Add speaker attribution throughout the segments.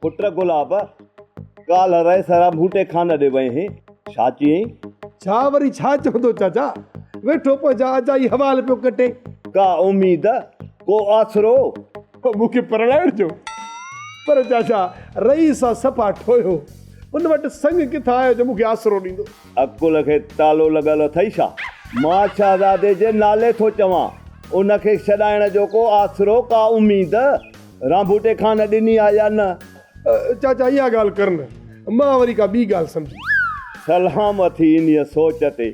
Speaker 1: پٽ گلاب! ڪالهه رئي سرا ڀوٽي خان ڏي وئين هين، ڇا چيئين؟ ڇا وري
Speaker 2: ڇا چوندو چاچا! ويٺو پنهنجا اجائي حوال پيو ڪٽي. ڪا اميد،
Speaker 1: ڪو آسرو؟ مون کي
Speaker 2: پرڻائڻ جو؟ پر چاچا رئي سان صفا ٺوهيو. ان وٽ سڱ ڪٿان آيو جو مون کي آسرو ڏيندو؟ عقل کي
Speaker 1: تالو لڳل اٿئي ڇا؟ مان شهزادي جي نالي ٿو چوان. ان کي ڇڏائڻ جو ڪو آسرو، ڪا اميد؟ رانڀوٽي خان ڏني آ يا نه؟ چاچا اها
Speaker 2: ڳالهه ڪر نه. مان وري ڪا ٻي ڳالهه سمجهي. سلام اٿي
Speaker 1: انهيء سوچ تي.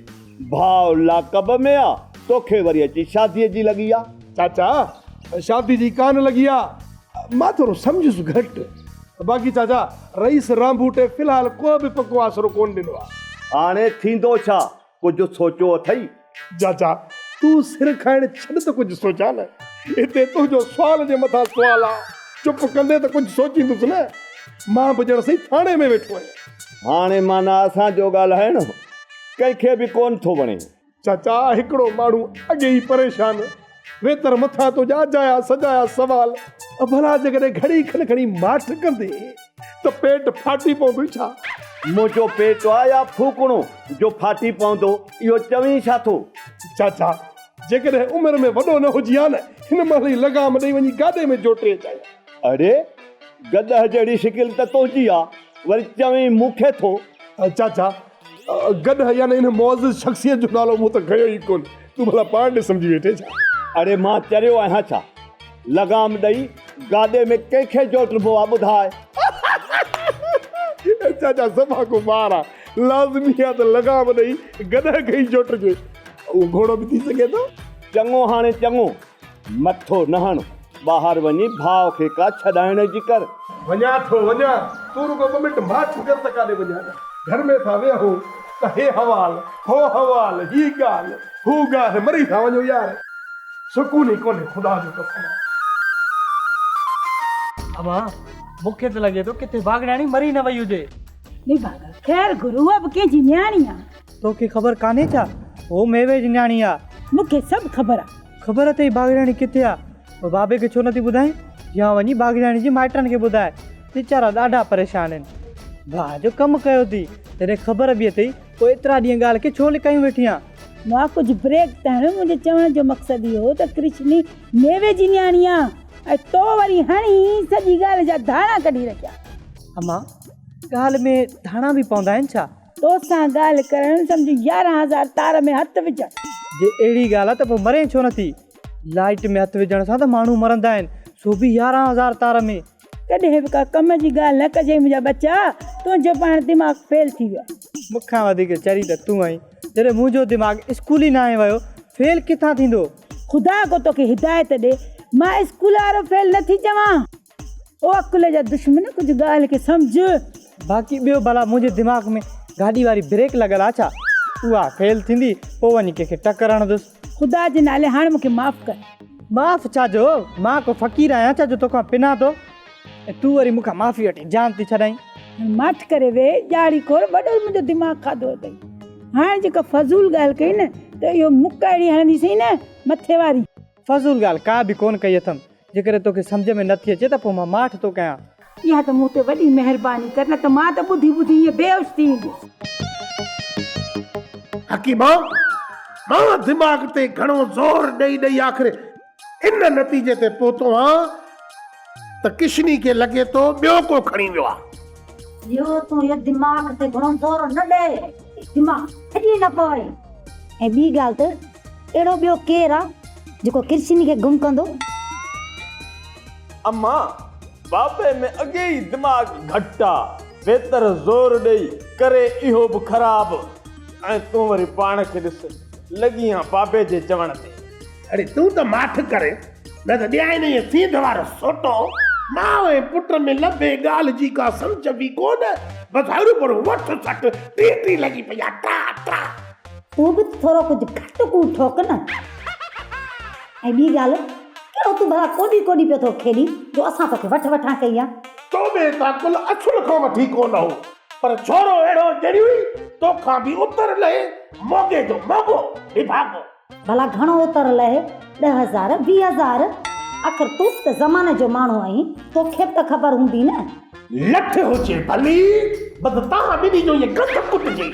Speaker 1: ڀاء لاقب ۾ آ، توکي وري اچي شاديء جي لڳي آ. چاچا
Speaker 2: شادي جي ڪا نه لڳي آ. مان ٿورو سمجهيس گهٽ. باقي چاچا رئيس رانڀوٽي في الحال ڪو به پڪو آسرو ڪونه ڏنو آ. هاڻي ٿيندو ڇا؟
Speaker 1: ڪجهه سوچيو اٿئي؟ چاچا،
Speaker 2: تون سر کائڻ ڇڏ ته ڪجهه سوچان نه. هتي تنهنجو سوال جي مٿان سوال آ. چپ ڪندي ته ڪجهه سوچيندس نه. مان به ڄڻ سائين ٿاڻي ۾ ويٺو آهيان. هاڻي معنيٰ اسان
Speaker 1: جو ڳالهائڻ ڪنهن کي به ڪونه ٿو وڻي. چاچا، هڪڙو
Speaker 2: ماڻهو اڳي ئي پريشان. ويتر مٿان تو جا اجايا سجايا سوال ته ڀلا جيڪڏهن گهڙي کن کڻي ماٺ ڪندي ته پيٽ ڦاٽي پوندو ڇا؟ منهنجو پيٽ
Speaker 1: آ يا ڦوڪڻو جو ڦاٽي پوندو، اهو چوين ڇا ٿو؟ چاچا
Speaker 2: جيڪڏهن عمر ۾ وڏو نه هجي ها نه هن مهل ئي لغام ڏئي وڃي گاڏي ۾ جوٽي اچان ها. اڙي
Speaker 1: گڏهه جهڙي شڪل ته تنهنجي آ وري چوين مون کي ٿو. چاچا
Speaker 2: گڏهه يعني ان معزز شخصيت جو نالو مون ته کنيو ئي ڪونه. تون ڀلا پاڻ ڏي سمجهي ويٺي ڇا؟ اڙي مان چريو
Speaker 1: آهيان ڇا؟ لغام ڏئي گاڏي ۾ ڪنهن کي جوٽبو آ ٻڌاء؟ چاچا
Speaker 2: سڀان ڪو ٻار آ. لازمي آ ته لغام ڏئي گڏهه کي ئي جوٽجي. اهو گهوڙو به ٿي سگهي ٿو. چڱو هاڻي
Speaker 1: چڱو. مٿو نه هڻ، ٻاهر وڃي ڀاء کي ڪا ڇڏائڻ جي ڪر. وڃان ٿو وڃان،
Speaker 2: تون رڳو ٻه منٽ ماٺ ڪر ته ڪاڏي وڃان نه. گهر ۾ ٿا ويهون ته هي حوال، هو حوال، هي ڳالهه، هو ڳالهه، مري ٿا وڃون يار. سڪون ئي ڪونهي خدا جو قسم.
Speaker 3: اما، مون کي ته لڳي ٿو ڪٿي ڀاڳڙياڻي مري نه وئي هجي. نڀاڳا،
Speaker 4: خير گهر، اها به ڪنهن جي نياڻي آ. توکي خبر ڪانهي ڇا؟
Speaker 3: هو ميوي جي نياڻي آ. مون کي سڀ خبر آ.
Speaker 4: خبر اٿئي ڀاڳياڻي
Speaker 3: ڪٿي آ؟ پوء بابي کي ڇو نٿي ٻڌائين؟ يا وڃي ڀاڳياڻي جي مائٽن کي ٻڌاء. ويچارا ڏاڍا پريشان آهن. ڀاء جو ڪم ڪيو ٿي. جڏهن خبر به اٿئي پوء ايترا ڏينهن ڳالهه کي ڇو لڪايون ويٺي آن؟ مان ڪجهه بريڪ
Speaker 4: ته هنيو. منهنجي چوڻ جو مقصد اهو هو ته ڪرشني ميوي جي نياڻي آ ۽ تو وري هڻي سڄي ڳالهه جا ڌاڻا ڪڍي رکيا. امان،
Speaker 3: ڳالهه ۾ ڌاڻا به پوندا آهن ڇا؟ تو سان ڳالهه
Speaker 4: ڪرڻ سمجهه يارهن هزار تار ۾ هٿ وجهڻ. جي اهڙي ڳالهه
Speaker 3: آهي ته پوء مرين ڇو نٿي؟ لائيٽ ۾ هٿ وجهڻ سان ته ماڻهو مرندا آهن، سو به يارهن هزار تار ۾. ڪڏهن به ڪا ڪم
Speaker 4: جي ڳالهه نه ڪجي منهنجا ٻچا، تنهنجو پاڻ دماغ فيل ٿي ويو آهي. مون کان وڌيڪ چري
Speaker 3: ته تون آهين، جڏهن منهنجو دماغ اسڪول ئي ناهي ويو، فيل ڪٿان ٿيندو؟ خدا ڪو توکي
Speaker 4: هدايت ڏي، مان اسڪول وارو فيل نٿي چوان. او عقل جا دشمن ڪجهه ڳالهه کي سمجهه. باقي ٻيو
Speaker 3: ڀلا منهنجي دماغ ۾ گاڏي واري بريڪ لڳل آ ڇا؟ اها فيل ٿيندي پوء وڃي ڪنهن کي ٽڪر هڻندس. خدا جي نالي هاڻ
Speaker 4: مون کي معاف ڪر. معاف ڇا جو
Speaker 3: مان ڪو فقير آهيان ڇا جو توکان پنان ٿو ۽ تون وري مون کان معافي وٺي جان ٿي ڇڏائين. هاڻ ماٺ ڪري
Speaker 4: ويهه ڄاڙي کور وڏو ئي منهنجو دماغ کاڌو اٿئي. هاڻ جيڪا فضول ڳالهه ڪئي نه ته اهو مڪ اهڙي هڻنديسين نه مٿي واري. فضول ڳالهه ڪا
Speaker 3: به ڪونه ڪئي اٿم. جيڪڏهن توکي سمجهه ۾ نه ٿي اچي ته پوء مان ماٺ ٿو ڪيان. اها ته مون تي
Speaker 4: وڏي مهرباني ڪر نه ته مان ته ٻڌي ٻڌي ائين بيهوش ٿي وينديس.
Speaker 2: حڪيما، مان دماغ تي گهڻو زور ڏئي ڏئي آخر ان نتيجي تي پهتو آهيان. ته ڪشني کي لڳي ٿو ٻيو ڪو کڻي ويو آهي. اهو تنهنجي
Speaker 5: دماغ تي گهڻو زور نه ڏي، دماغ ڦڄي نه پوي. ۽ ٻي ڳالهه ته اهڙو ٻيو ڪير آهي جيڪو ڪشني کي گم ڪندو؟
Speaker 1: اما، بابي ۾ اڳي ئي دماغ گهٽ آ، ويتر زور ڏئي ڪري اهو به خراب. ۽ تون وري پاڻ کي ڏس، لڳي آن بابي جي چوڻ تي. اڙي تون ته
Speaker 2: ماٺ ڪري نه ته ڏيائين نه ايئن سينڌ وارو سوٽو. ماء ۽ پٽ ۾ لڀي ڳالهه جي ڪا سمجهه به ڪونه. بس هر ڀرو وٺ سٽ ٽي ٽي لڳي پئي آهي ٽا ٽا. تون به ته
Speaker 5: ٿورو ڪجهه گهٽ ڪوڙ ٺوڪ نه. ۽ ٻي ڳالهه ڪهڙو تون ڀلا ڪوڏي ڪوڏي پيو ٿو کيڏين جو اسان توکي وٺ وٺان ڪئي آهي. تو به هتان ڪل
Speaker 2: اصل کان وٺي ڪونه هو پر ڇورو اهڙو جهڙيوئي توکان به اتر لهي موڳي جو موڳو نڀاڳو. ڀلا گهڻو
Speaker 5: اتر لهي ڏهه هزار ويهه هزار. آخر تون ته زماني جو ماڻهو آهين توکي به ته خبر هوندي نه.
Speaker 2: لٺ هجي ڀلي بس توهان ٻنهي جو ائين ڪنڌ ڪٽجي.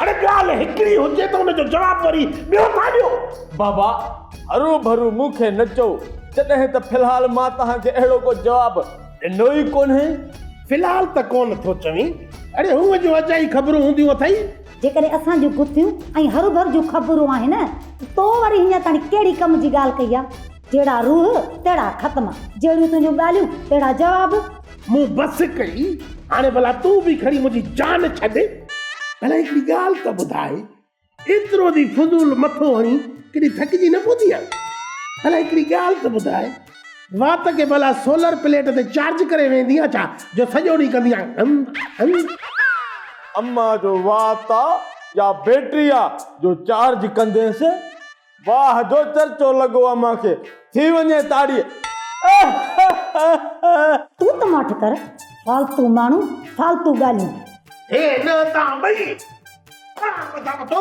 Speaker 2: اڙي ڳالهه هڪڙي هجي ته ان جو جواب وري ٻيو ٿا ڏيو. بابا
Speaker 1: هرو ڀرو مون کي نه چئو جڏهن ته في الحال مان توهان کي اهڙو ڪو جواب ڏنو ئي ڪونهي. في الحال ته
Speaker 2: ڪونه ٿو چوين. اڙي هونء جو اجائي خبرون هونديون اٿئي. جيڪڏهن اسان جون
Speaker 5: گٿيون ۽ هروڀر جون خبرون آهن ته تو وري هينئر تائڻي ڪهڙي ڪم جي ڳالهه ڪئي آ؟ جهڙا روح تهڙا ختم، جهڙيون تنهنجون ڳالهيون تهڙا جواب. مون بس
Speaker 2: ڪئي، هاڻي ڀلا تون به کڻي منهنجي جان ڇڏ. ڀلا هڪڙي ڳالهه ته ٻڌاء، ايترو ٿي فضول مٿو هڻي ڪيڏي ٿڪجي نه پوندي آهين؟ ڀلا هڪڙي ڳالهه ته ٻڌاء، وات کي ڀلا سولر پليٽ تي چارج ڪري ويندي آ ڇا جو سڄو ڏينهن ڪندي آ ام ام.
Speaker 1: اما جو وات آ يا بيٽري آ جو چارج ڪندينس. واهه جو چرچو لڳو اما کي ٿي وڃي تاڙي اهه.
Speaker 5: تون ته ماٺ ڪر فالتو ماڻهو فالتو ڳالهيون. هي نه
Speaker 2: تان ٻئي.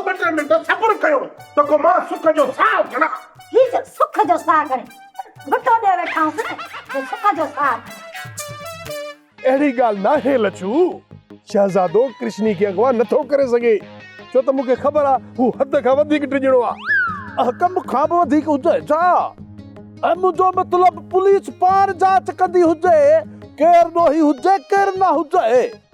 Speaker 2: ٻه ٽي منٽ صبر ڪيو ته ڪو مان سک جو ساهه کڻان. هي ڇو سک جو ساهه کڻي؟
Speaker 5: ڀٽو ڏي
Speaker 2: ويٺائونس نه جو سک جو ساهه کڻي. اهڙي ڳالهه ناهي لڇو. شهزادو ڪرشني کي اغوا نٿو ڪري سگهي ڇو ته مون کي خبر آ هو حد کان وڌيڪ ڊڄڻو آ. احڪم کان
Speaker 6: به وڌيڪ هجي ڇا؟ ۽ منهنجو مطلب پوليس پاڻ جاچ ڪندي هجي ڪير ڏوهي هجي ڪير نه هجي.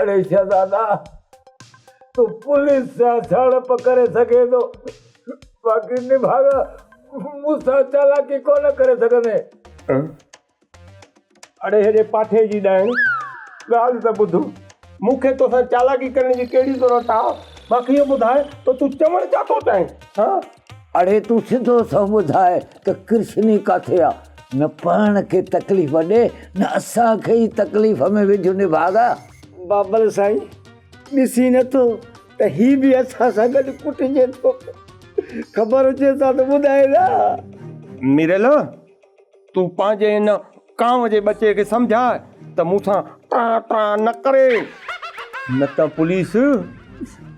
Speaker 1: اڙي شهزادا، تون پوليس سان ساڻپ ڪري سگهين ٿو، باقي نڀاڳا مون سان چالاڪي ڪونه ڪري سگهندين.
Speaker 2: اڙي هيڏي پاٺي جي ڏائڻ، ڳالهه ته ٻڌ، مون کي توسان چالاڪي ڪرڻ جي ڪهڙي ضرورت آ؟ مان کي اهو ٻڌاء ته تون چوڻ ڇا ٿو چاهين؟ هان؟ اڙي تون
Speaker 7: سڌو سنئون ٻڌاء ته ڪرشني ڪاٿي آ؟ نه پاڻ کي تڪليف ڏي نه اسان کي ئي تڪليف ۾ وجهه نڀاڳا. بابل
Speaker 3: سائين ڏسين نه ٿو ته هي به اسان سان گڏ ڪٽجي ٿو. خبر هجيس ها ته ٻڌائيندا. ميرل!
Speaker 2: تون پنهنجي ان ڪانء جي ٻچي کي سمجهاء ته مون سان ٽران ٽران نه ڪري، نه ته پوليس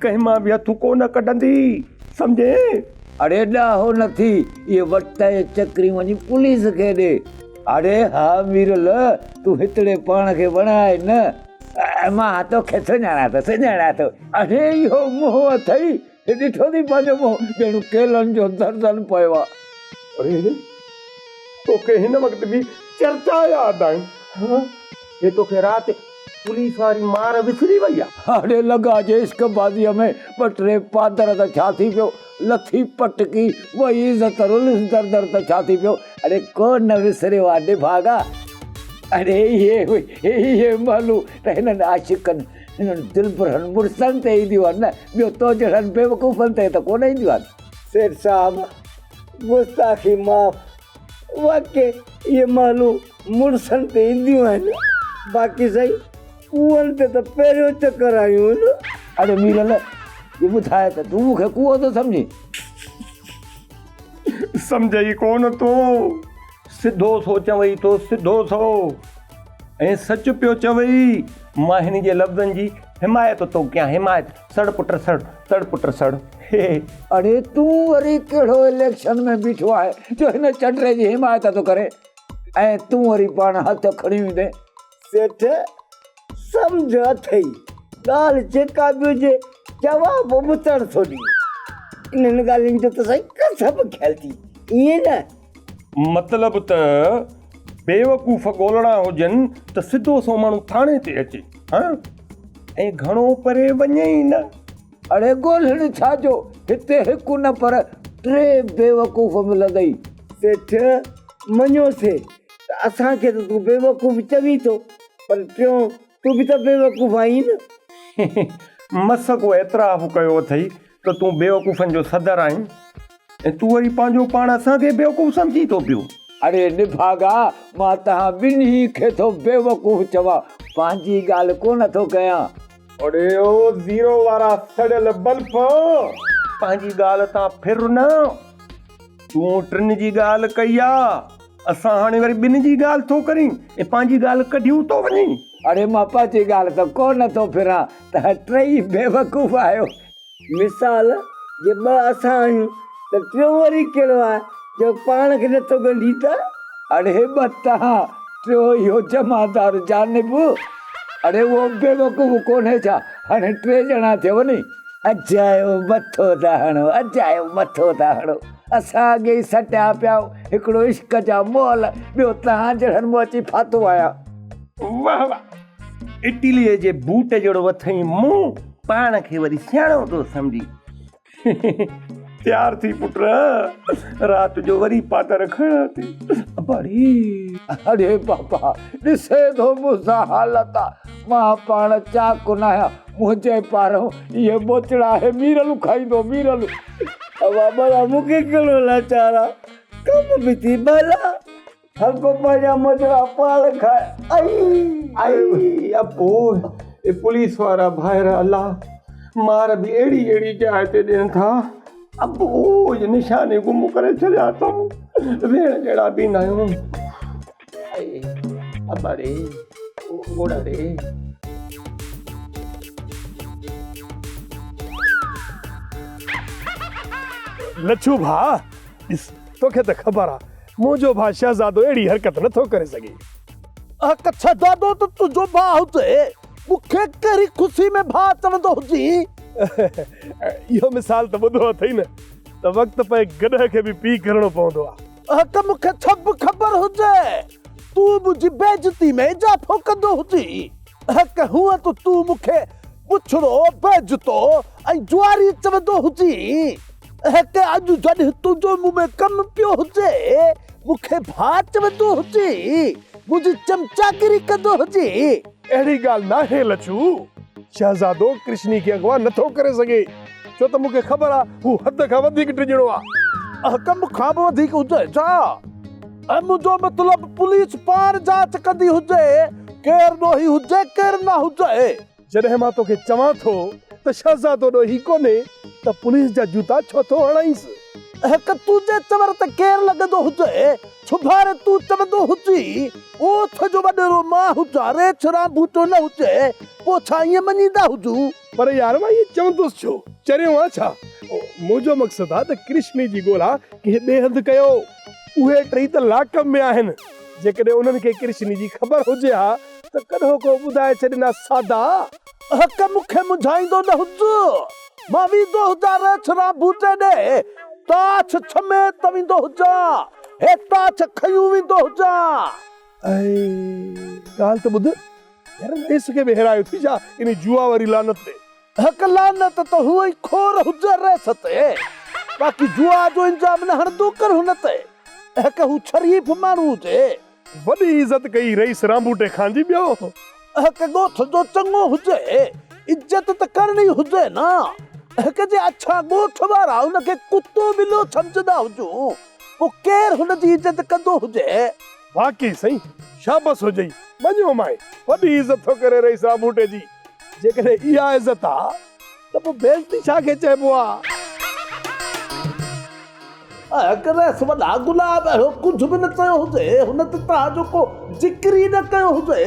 Speaker 2: ڪنهن مان به هٿ ڪونه ڪڍندي، سمجهين؟ اڙي
Speaker 7: ڏاهو نه ٿي، اهي وٽ ۽ چڪريون وڃي پوليس کي ڏي. اڙي ها ميرل، تون هتڙي پاڻ کي وڻاء نه. مان تو کي سڃاڻان ٿو، سڃاڻان ٿو. اڙي اهو منهن اٿئي. هي ڏٺو ٿي پنهنجو منهن ڄڻ ڪيلن جو درزن پيو آ. اري ري
Speaker 2: توکي هن وقت به چرچا ياد آهن. ها هي توکي رات پوليس واري مار وسري وئي آ. اڙي لڳا جي عشق
Speaker 7: بازيء ۾ ٻه ٽي پادر ته ڇا ٿي پيو لٿي پٽڪي وئي عزت رلس در در ته ڇا ٿي پيو. اڙي ڪو نه وسريو آ ڊڀاڳا. اڙي هي هي مهلون ته هنن عاشقن. انهن دلبرن مڙسن تي اينديون آهن نه، ٻيو تو جهڙن بيوقوفن تي ته ڪونه اينديون آهن. سيٺ صاحب
Speaker 3: گستاخي معاف. واقعي اهي مهلون مڙسن تي اينديون آهن، باقي سائين ڪوئن تي ته پهريون چڪر آيون آهن. اڙي ميرل
Speaker 7: جي ٻڌاء ته تون مون کي ڪوئو ٿو سمجهين.
Speaker 2: سمجهي ئي ڪونه ٿو. سڌو سوچ وئي ٿو سڌو سو. ۽ سچ پيو چوي. مان هن جي لفظن جي حمايت ٿو ڪيان، حمايت. سڙ پٽ سڙ، تڙ پٽ سڙ. هي هي. اڙي
Speaker 7: تون وري ڪهڙو اليڪشن ۾ بيٺو آهين جو هن چٽري جي حمايت ٿو ڪرين ۽ تون وري پاڻ هٿ کڻيون ايندين. سيٺ
Speaker 3: سمجهه اٿئي ڳالهه جيڪا به هجي جواب ابتڙ ٿو ڏئي. انهن ڳالهين جو ته سائين ڪسب کيل ٿي ائين نه؟ مطلب ته
Speaker 2: بيوقوف ڳولڻا هجن ته سڌو سنئون ماڻهو ٿاڻي تي اچي هان ۽ گهڻو پري وڃي ئي نه. اڙي ڳولڻ
Speaker 7: ڇا جو هتي هڪ نه پر ٽي بيوقوف ملندئي. سيٺ
Speaker 3: مڃيوسين ته اسان کي ته تون بيوقوف چوين ٿو پر ٽيون تون به ته بيوقوف آهين نه. مس ڪو
Speaker 2: اعتراف ڪيو اٿئي ته تون بيوقوفن جو صدر آهين ۽ تون وري پنهنجو پاڻ اسان کي بيوقوف سمجهين ٿو پيو. اڙي نڀاڳا
Speaker 7: مان توهان ٻنهي کي ٿو بيوقوف چوان پنهنجي ڳالهه ڪو نه ٿو ڪيان. اڙي
Speaker 2: او زيرو وارا سڙيل بلف. پنهنجي ڳالهه تان ڦر نه تون ٽن جي ڳالهه ڪئي آ. اسان هاڻي وري ٻن جي ڳالهه ٿو ڪرين ۽ پنهنجي ڳالهه ڪڍيون ٿو وڃين. اڙي مان پنهنجي
Speaker 7: ڳالهه تي ڪو نه ٿو ڦران، توهان ٽيئي بيوقوف آهيو. مثال، جي ٻه اسان آهيون ته ٽيون وري ڪهڙو آهي جو پاڻ کي نه ٿو ڳنڍي ته؟ اڙي ٻه توهان، ٽيون اهو جمعدار جانب. اڙي اهو بيوقوف ڪونهي ڇا، هاڻي ٽي ڄڻا ٿيو ني. اجايو مٿو ٿا هڻو، اجايو مٿو ٿا هڻو. اسان اڳي ئي سٽيا پيا هڪڙو عشق جا مئل ٻيو توهان جهڙن مون اچي ڦاٿو آهيان. واه واه
Speaker 2: اٽليء جي بوٽ جهڙو اٿئي مون پاڻ کي وري سياڻو ٿو سمجهي تيار ٿي پٽ رات جو وري پادر کڻان ٿي اباڙي. اڙي
Speaker 7: بابا ڏسي ٿو مون سان حالت مان پاڻ چاڪ ناهيان منهنجي پارون هي ٻوچڙا هي ميرلون کائيندو ميرلون. اوا ڀلا مون کي ڪهڙو لاچار آ ڪم به ٿي ڀلا هر ڪو پنهنجا مجرا پاڻ کائي اي
Speaker 2: اي پوء اي پوليس وارا ڀائر الله مار به اهڙي اهڙي جاء تي ڏين ٿا ابو نشاني گم ڪري ڇڏيا اٿم ويهڻ جهڙا به نه آهيون
Speaker 8: لڇو ڀاء ڏس توکي ته خبر آ منهنجو ڀاء شهزادو اهڙي حرڪت نه ٿو ڪري سگهي. اک
Speaker 6: شهزادو ته تنهنجو ڀاء هجي مون کي ڪهڙي خوشي ۾ ڀاء چوندو هجين.
Speaker 8: اهو مثال ته ٻڌو اٿئي نه ته وقت پئي گڏهه کي به پيء ڪرڻو پوندو آ. اهڪ مون کي سڀ
Speaker 6: خبر هجي، تون منهنجي بيعزتي ۾ اضافو ڪندو هجين. اهڪ هونئن ته تون مون کي بڇڙو، بيعزتو ۽ جواري چوندو هجين. اهڪ اڄ جڏهن تنهنجو مون ۾ ڪم پيو هجي، مون کي ڀاء چوندو هجين، منهنجي چمچاگيري ڪندو هجين. اهڙي ڳالهه
Speaker 8: ناهي لڇو، شهزادو ڪرشني کي اغوا نه ٿو ڪري سگهي، ڇو ته مون کي خبر آ هو حد کان وڌيڪ ڊڄڻو آ. احڪم کان به وڌيڪ
Speaker 6: هجي ڇا؟ ۽ منهنجو مطلب پوليس پاڻ جاچ ڪندي هجي، ڪير ڏوهي هجي ڪير نه هجي. جڏهن مان توکي
Speaker 8: چوان ٿو ته شهزادو ڏوهي ڪونهي ته پوليس جا جوتا ڇو ٿو هڻائينس؟ احڪ
Speaker 6: تنهنجي چور تي ڪير لڳندو هجي ڇوڀار تون چوندو هجي، اوٺ جو وڏيرو مان هجان، ريڇ رانڀو جو نه هجي، پوء ڇا ائين مڃيندا هجون؟ پر يار مان ائين
Speaker 8: چوندوس ڇو؟ چريو آهيان ڇا؟ منهنجو مقصد آهي ته ڪرشني جي ڳولا ڪنهن ٻئي هنڌ ڪيو. اهي ٽئي ته لاڪپ ۾ آهن. جيڪڏهن انهن کي ڪرشني جي خبر هجي ها ته ڪڏهوڪو ٻڌائي ڇڏيندا سادا. اهڪ
Speaker 6: مون کي مونجهائيندو نه هج. مان ويندو هجان ريڇ ران ٻوٽي ڏي، تاڇ ڇميت ويندو هجان، هي تاڇ کنيون ويندو هجان. اي
Speaker 8: ڳالهه ته ٻڌ، يار ريس کي به هيرايو ٿي ڇا انهي جوا واري لعنت تي. هڪ لعنت
Speaker 6: ته هونء ئي کور هجي ريس تي، باقي جوا جو انجام نه هڻندو ڪر هن تي، هڪ هو شريف ماڻهو هجي. وڏي عزت
Speaker 8: ڪئي رئيس رانبوٽي خان جي ٻيو اهڪ ڳوٺ
Speaker 6: جو چڱو هجي عزت ته ڪرڻي هجي نه اهڪ جي اڇا ڳوٺ وارا ان کي ڪتو ٻلو سمجهندا هجون پو ڪير هن جي عزت ڪندو هجي. واقعي سائين
Speaker 8: شابس هجئي مڃيو مائي وڏي عزت ٿو ڪري رئيس رانبوٽي جي جيڪڏهن اها عزت آ. ته پوء بيعزتي ڇا کي چئبو آ؟ اگر
Speaker 6: ايس وڏا گلاب اهڙو ڪجهه به نه چيو هجي، هن ته توهان جو ڪو ذڪر ئي نه ڪيو هجي.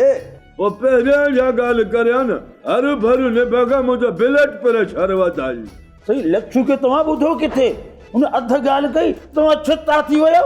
Speaker 6: پوء پهريان
Speaker 9: اها ڳالهه ڪريان نه، هر ڀر نڀ کان منهنجو بلڊ پريشر وڌائي. سائين لڇو
Speaker 10: کي توهان ٻڌو ڪٿي؟ هن اڌ ڳالهه ڪئي، توهان ڇتا ٿي ويو.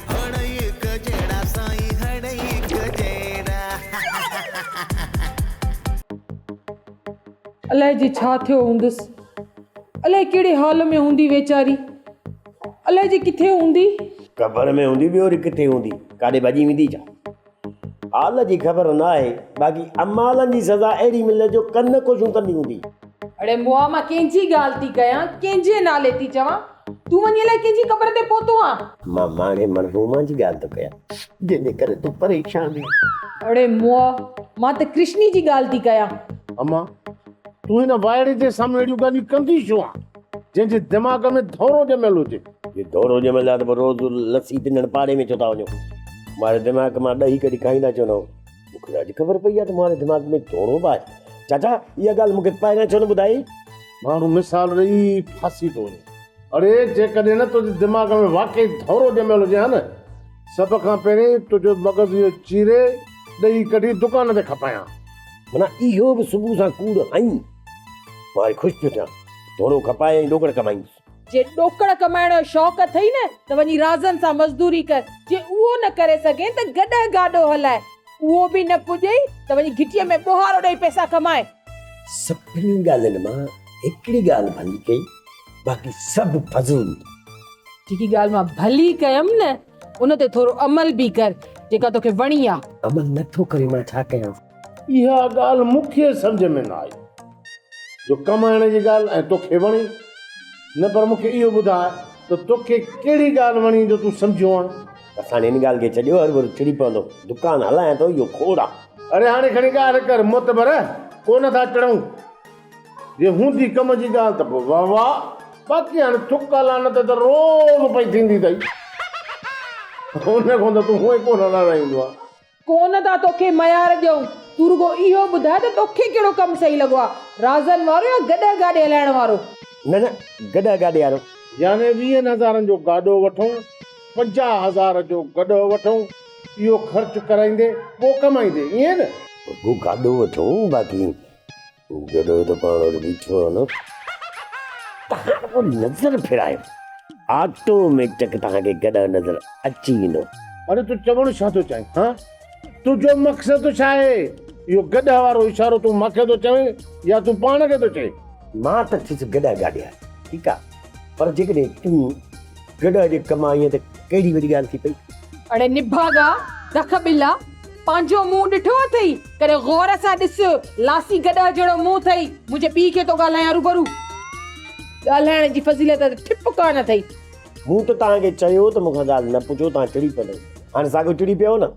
Speaker 11: هڙئي هڪ جهڙا سائين هڙئي هڪ جهڙا. الائي جي ڇا ٿيو هوندس الائي ڪهڙي حال ۾ هوندي ويچاري الائي جي ڪٿي هوندي. قبر ۾ هوندي
Speaker 10: ٻيو وري ڪٿي هوندي ڪاڏي ڀڄي ويندي ڇا. حال جي خبر نه آهي باقي امالن جي سزا اهڙي ملي جو ڪن ڪوشون ڪندي هوندي.
Speaker 11: اڙي موئا مان ڪنهن
Speaker 10: جي
Speaker 11: ڳالهه ٿي ڪيان
Speaker 10: ڪنهن
Speaker 11: جي نالي ٿي چوان تون وڃي الائي ڪنهن جي قبر تي پهتو آن. مان ماڻهي
Speaker 12: مرحومه جي ڳالهه ٿو ڪيان جنهن جي ڪري تون پريشان آهين. اڙي موئا
Speaker 11: مان ته ڪرشني جي ڳالهه ٿي ڪيان. اما
Speaker 10: تون هن وائڙي جي سامهون اهڙيون ڳالهيون ڪندي ڇو آن جنهن جي دماغ ۾ ڌؤرو ڄميل هجي. جي دور هجي مان
Speaker 12: لاء ته پوء روز لسي پنڻ پاڙي ۾ ڇو ٿا وڃو. مهاري دماغ مان ڏهي ڪڍي کائيندا ڇو نه آهيو. مون کي ته اڄ خبر پئي آهي ته مهاري دماغ ۾ ڌوڻو به آهي. چاچا اها ڳالهه مون کي پهريان ڇو نه ٻڌائي. ماڻهو مثال
Speaker 10: ڏئي ڦاسي ٿو وڃي. اڙي جيڪڏهن نه تنهنجي دماغ ۾ واقعي ڌوڻو ڄميل هجي ها نه سڀ کان پهرين تنهنجو مغز اهو چيري ڏهي ڪڍي دڪان تي کپائين ها. معنيٰ اهو
Speaker 12: به صبح سان ڪوڙ هنئين. مهاري خوش پيو ٿيان. ڌوڻو کپائي ۽ ڏوڪڙ ڪمائيندس. جي ڏوڪڙ
Speaker 11: ڪمائڻ جو شوق اٿئي نه ته وڃي رازن سان مزدوري ڪر، جي اهو نه ڪري سگهين ته گڏهه گاڏو هلاء، اهو به نه پڄئي ته وڃي گهٽيء ۾ ٻوهارو ڏيئي پئسا ڪماء. سڀني
Speaker 12: ڳالهين مان هڪڙي ڳالهه ڀلي ڪئي، باقي سڀ فضول. جيڪي
Speaker 11: ڳالهه مان ڀلي ڪيم نه ان تي ٿورو عمل به ڪر جيڪا توکي وڻي آ. عمل نه ٿو ڪري مان
Speaker 12: ڇا ڪيان. اها ڳالهه
Speaker 10: مون کي سمجهه ۾ نه آئي جو ڪمائڻ جي ڳالهه ۽ توکي وڻي نه پر مون کي اهو ٻڌاء ته توکي ڪهڙي ڳالهه وڻي جو تون سمجهيو آن. بس هاڻي هن ڳالهه کي
Speaker 12: ڇڏيو هر ڀر چڙي پوندو دڪان هلايان ٿو اهو کوڙ آ. اڙي هاڻي کڻي ڳالهه
Speaker 10: ڪر معتبر ڪو نه ٿا چڙئون. جي هوندي ڪم جي ڳالهه ته پوء واهه واهه، باقي هاڻي ٿڪا لعنت ته روز پئي ٿيندي اٿئي. ان کان ته تون هونئن ڪونه لڙائيندو آهين. ڪونه ٿا توکي
Speaker 11: ميار ڏيون، تون رڳو اهو ٻڌاء ته توکي ڪهڙو ڪم صحيح لڳو آهي، رازن وارو يا گڏهه گاڏي هلائڻ وارو؟ نه نه،
Speaker 12: گڏهه گاڏي وارو. يعني ويهن
Speaker 10: هزارن جو گاڏو وٺون، پنجاهه هزار جو گڏهه وٺون، اهو خرچ ڪرائيندي، پوء ڪمائيندي، ائين نه؟ رڳو گاڏو
Speaker 12: وٺون، باقي گڏهو ته پاڻ وٽ بيٺو آهي نه. تهان رڳو نظر ڦيرايو، آٽوميٽڪ تهان کي گڏهه نظر اچي ويندو. اڙي تون چوڻ
Speaker 10: ڇا ٿو چاهين ها؟ تنهنجو مقصد ڇا آهي؟ اهو گڏهه وارو اشارو تون مان کي ٿو چوين يا تون پاڻ کي ٿو چوين؟ مان ته ٿيس
Speaker 12: گڏهه گاڏي وارو، ٺيڪ آهي، پر جيڪڏهن تون. گڏهه جي ڪم آئين ته ڪهڙي وڏي ڳالهه ٿي پئي. اڙي نڀاڳا،
Speaker 11: دک ٻلا، پنهنجو منهن ڏٺو اٿئي؟ ڪڏهن غور سان ڏس، لاسي گڏهه جهڙو منهن اٿئي، منهنجي پيء کي ٿو ڳالهايان روبرو. ڳالهائڻ جي فضيلت ته ٺپ ڪانه اٿئي. مون ته توهان
Speaker 12: کي چيو ته مون کان ڳالهه نه پڇو، توهان چڙي پوندئو. هاڻي ساڳيو چڙي پيا آهيو نه.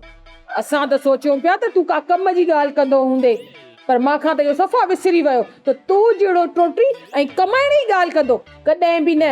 Speaker 12: اسان ته
Speaker 11: سوچيون پيا ته تون ڪا ڪم جي ڳالهه ڪندو هوندين، پر مان کان ته اهو صفا وسري ويو ته تو جهڙو ٽوٽري ۽ ڪمائڻ جي ڳالهه ڪندو، ڪڏهن به نه.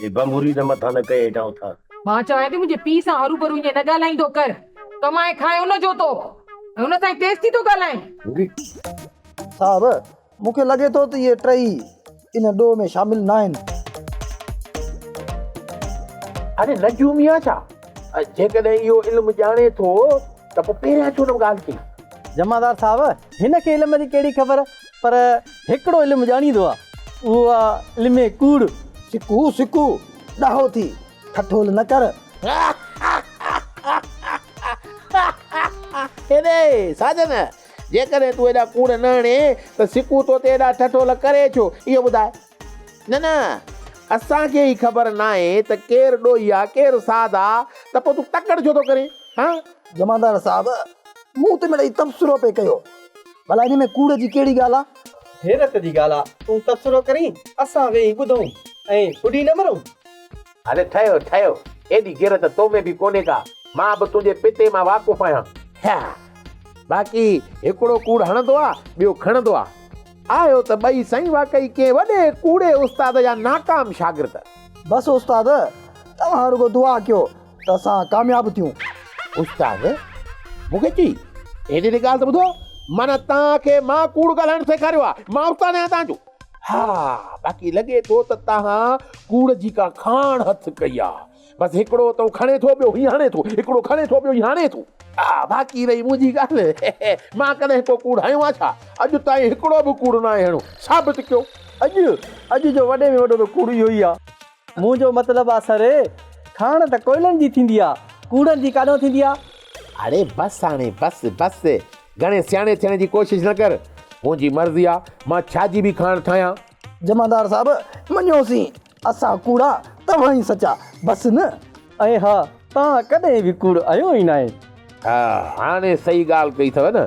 Speaker 10: هي ڀنڀوري
Speaker 12: ته مٿان نه ڪئي هيٺان اٿار. مان چواين ٿي منهنجي
Speaker 11: پيء سان هروڀرو ائين نه ڳالهائيندو ڪر. ڪمائي کائي ان جو تو ۽ ان سان ئي تيز ٿي ٿو ڳالهائين. هوندي
Speaker 3: صاحب مون کي لڳي ٿو ته اهي ٽئي ان ڏوهه ۾ شامل ناهن.
Speaker 12: اڙي لڄون ميان ڇا ۽ جيڪڏهن اهو علم ڄاڻين ٿو ته پوء پهريان ڇو نه ڳالهه ڪئي. جمعدار صاحب
Speaker 3: هن کي علم جي ڪهڙي خبر. پر هڪڙو علم ڄاڻيندو آ، اهو آ علم ڪوڙ. سڪو سڪو ڏاهو ٿي ٺٺول نه ڪر.
Speaker 13: هيڏي ساجن! جيڪڏهن تون هيڏا ڪوڙ نه هڻين ته سڪو توتي هيڏا ٺٺول ڪري ڇو، اهو ٻڌاء؟ نه نه اسان کي ئي خبر ناهي ته ڪير ڏوهي آ ڪير ساڌ آ ته پوء تون تڪڙ ڇو ٿو ڪرين هان. جمعدار صاحب
Speaker 3: مون تي مڙئي تبصرو پئي ڪيو ڀلا انهي ۾ ڪوڙ جي ڪهڙي ڳالهه آ. حيرت جي ڳالهه آ تون تبصرو ڪرين اسان ويهي ٻڌون ۽ ٻڏي نه مرون. هلي ٺهيو
Speaker 13: ٺهيو، ايڏي غيرت تو ۾ به ڪونهي ڪا، مان به تنهنجي پتي مان واقف آهيان. هيء باقي هڪڙو ڪوڙ هڻندو آ، ٻيو کڻندو آ. آهيو ته ٻئي سائين واقعي ڪنهن وڏي ڪوڙي استاد جا ناڪام شاگرد. بس استاد،
Speaker 3: توهان رڳو دعا ڪيو ته اسان ڪامياب ٿيون. استاد،
Speaker 13: مون کي چئي، هيڏي هڪ ڳالهه ته ٻڌو، معنيٰ توهان کي مان ڪوڙ ڳالهائڻ سيکاريو آ، مان استاد آهيان توهان جو. ها باقي لڳي ٿو ته تهان ڪوڙ جي ڪا ڪاڻ هٿ ڪئي آ. بس هڪڙو تون کڻي ٿو ٻيو هي هڻي ٿو هڪڙو کڻي ٿو ٻيو هي هڻي ٿو. ها باقي رهي منهنجي ڳالهه هي مان ڪڏهن ڪو ڪوڙ هنيو آ ڇا؟ اڄ تائين هڪڙو به ڪوڙ ناهي هڻيو. ثابت ڪيو. اڄ
Speaker 3: اڄ جو وڏي ۾ وڏو ته ڪوڙ اهو ئي آ. مون جو مطلب آ سر، کاڻ ته ڪوئلن جي ٿيندي آ، ڪوڙن جي ڪاڏانهن ٿيندي آ؟ اڙي بس
Speaker 13: هاڻي بس بس، گهڻي سياڻي ٿيڻ جي ڪوشش نه ڪر، منهنجي مرضي آ مان ڇا جي به کاڻ ٺاهيان. جمعدار صاحب،
Speaker 6: مڃيوسين، اسان ڪوڙا، توهان ئي سچا، بس نه؟ ۽ ها،
Speaker 3: توهان ڪڏهن به ڪوڙ ايو ئي ناهي. ها، هاڻي
Speaker 13: صحيح ڳالهه ڪئي ٿئو نه.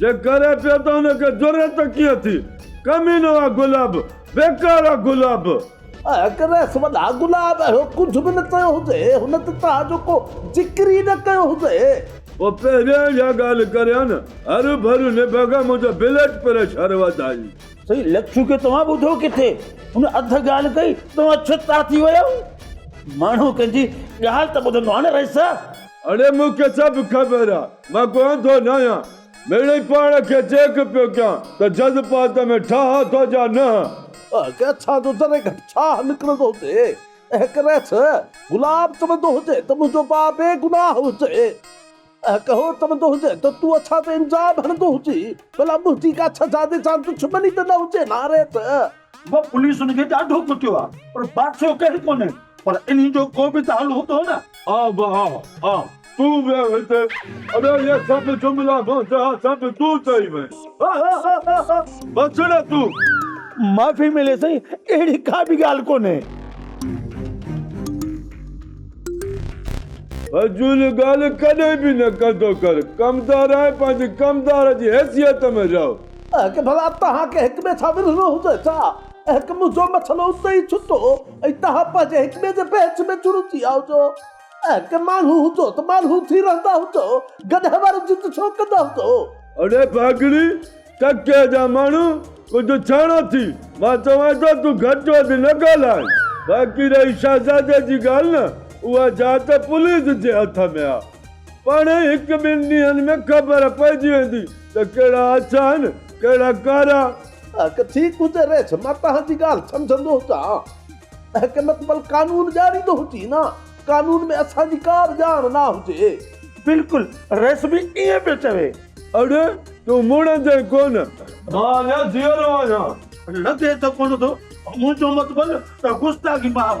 Speaker 9: جي ڪري پيو ته ان کي جرئت ڪيئن ٿي. ڪمينو آ گلاب. بيڪار آ گلاب. هڪ رئيس
Speaker 6: وڏا گلاب اهو ڪجهه به نه چيو هجي هن ته توهان جو ڪو ذڪر ئي نه ڪيو هجي. پوء پهريان
Speaker 9: اها ڳالهه ڪريان نه هر ڀر نڀ کان منهنجو بلڊ پريشر وڌائي. سائين لڇو کي
Speaker 6: توهان ٻڌو ڪٿي هن اڌ ڳالهه ڪئي توهان ڇتا ٿي ويو. ماڻهو ڪنهن جي ڳالهه ته ٻڌندو آهي نه رئيس. اڙي مون
Speaker 9: کي سڀ خبر آ. مان ڪونه ٿو ڄاڻان مڙئي پاڻ کي چيڪ پيو ڪيان ته جذبات ۾ ٺاهه اٿو جا نه. اک اڇا جو
Speaker 6: ذري گهٽ ڇاهه نڪرندو هجي اهڪ رئس گلاب چمندو هجي ته منهنجو باء بي گناهه هجي اهڪ هو چمندو هجي ته تون اڇا جو انجام هڻندو هجين ڀلا منهنجي ڪا شهزادي سان دشمني ته نه هجي نا رئس. به پوليس ان
Speaker 14: کي ڏاڍو ڪٽيو آ پر باٿيو ڪير ڪونهي پر انهي جو ڪو به ته حل هوندو نه. آء به آء آء
Speaker 9: تون ويهه هتي اڙي اهي سڀ جملا مان جها سڀ تون چئي وئين ها ها ها ها ها بس نه تون. معافي
Speaker 6: ملي سائين اهڙي ڪا به ڳالهه ڪونهي.
Speaker 9: فضول ڳالهه ڪڏهن به نه ڪندو ڪر ڪمدار آهين پنهنجي ڪمدار جي حيثيت ۾ رهه. اهڪ ڀلا
Speaker 6: توهان کي هڪ ٻئي سان ورهڻو هجي ڇا؟ اهڪ منهنجو مٿلو اتي ئي ڇٽو ۽ توهان پنهنجي هڪ ٻئي جي پيچ ۾ چڙون ٿي ويا هجو. اهڪ ماڻهو هجو ته ماڻهو ٿي رهندا هجو، گڏهه وارو جت ڇو ڪندا هجو؟ اڙي پاڳڙي،
Speaker 9: تڪيء جا ماڻهو، ڪجهه ڇاڻا ٿي. مان چوان ٿو تون گهٽ وڌ نه ڳالهاء. باقي رهي شهزادي جي ڳالهه نه، اها جاء ته پوليس جي هٿ ۾ آ. پاڻ ئي هڪ ٻن ڏينهن ۾ خبر پئجي ويندي ته ڪهڙا اڇا آهن ڪهڙا ڪارا. اک ٿي
Speaker 6: گذر رئيس مان تهان جي ڳالهه سمجهندو هوسان حڪمت بل قانون ڄاڻيندو هجين ها قانون ۾ اسان جي ڪا به ڄاڻ نا هجي. بلڪل
Speaker 14: رئيس به ائين پيو چوي. اڙي
Speaker 9: تون مڙندين ڪونه. مان اڃا جيئرو
Speaker 14: آهيان. لڳي ته ڪونه ٿو منهنجو مطبل ته گستاخي معاف.